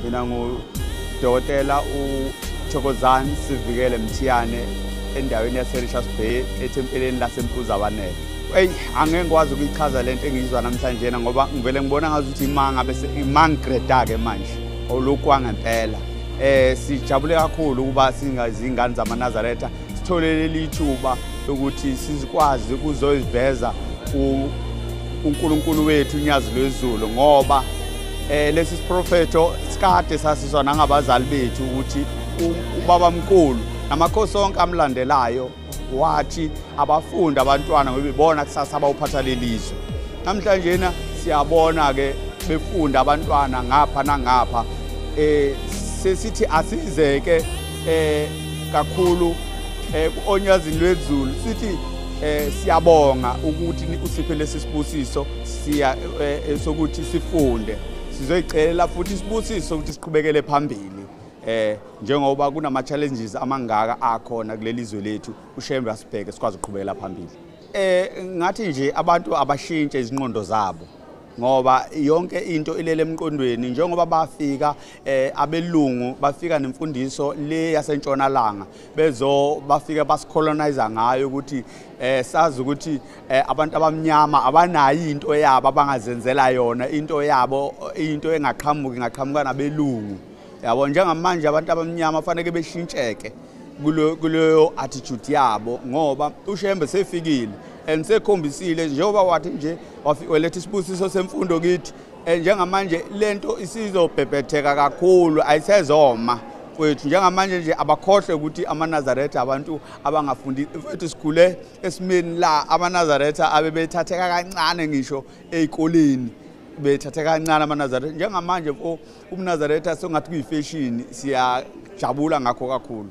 mina ngudokotela uthokozani sivikele mthiyane endaweni yaserishas bay ethempeleni lasempuzabanele eyi angeke ngikwazi ukuyichaza le nto engiyizwa namhlanjena ngoba ngivele ngibona ngazi ukuthi imanga bese imangigreda-ke manje olukwangempela um eh, sijabule kakhulu ukuba singazingane zamanazaretha sithole leli thuba lokuthi sizikwazi ukuzoyiveza uNkulunkulu wethu unyazi lwezulu ngoba Eh lesi siprofeto sikade sasizwa nangabazali bethu ukuthi ubaba mkhulu namakhosi onke amlandelayo wathi abafundi abantwana ngoba ibona kusasa abawuphatha lelizwe namhlanje na siyabona ke befunda abantwana ngapha nangapha eh sesithi asizeke eh kakhulu eh kuonyazini lwezulu sithi eh siyabonga ukuthi usiphe lesi sibusiso siya eh, eh, sokuthi sifunde sizoyicelela futhi sibusiso ukuthi siqhubekele phambili eh njengoba kunama challenges amangaka akhona kuleli zwe lethu ushembe asibheke sikwazi ukuqhubekela phambili eh ngathi nje abantu abashintshe izinqondo zabo ngoba yonke into ilele emqondweni njengoba bafika eh, abelungu bafika nemfundiso le yasentshonalanga bezo bafika basicolonize ngayo ukuthi eh, sazi ukuthi eh, abantu abamnyama abanayo into yabo abangazenzela yona into yabo into engaqhamuki ngaqhamuka nabelungu yabo njengamanje abantu abamnyama faneke beshintsheke kuleyo attitude yabo ngoba ushembe sefikile and sekhombisile njengoba wathi nje waletha isibusiso semfundo kithi eh, njengamanje lento isizobhebhetheka kakhulu ayisezoma kwethu njengamanje nje abakhohlwe ukuthi amanazaretha abantu abangafundi mfethu sikhule esimeni la amanazaretha abebethatheka kancane ngisho ezikoleni bethatheka kancane amanazaretha njengamanje mfo umnazaretha sengathi kuyifeshini siyajabula ngakho kakhulu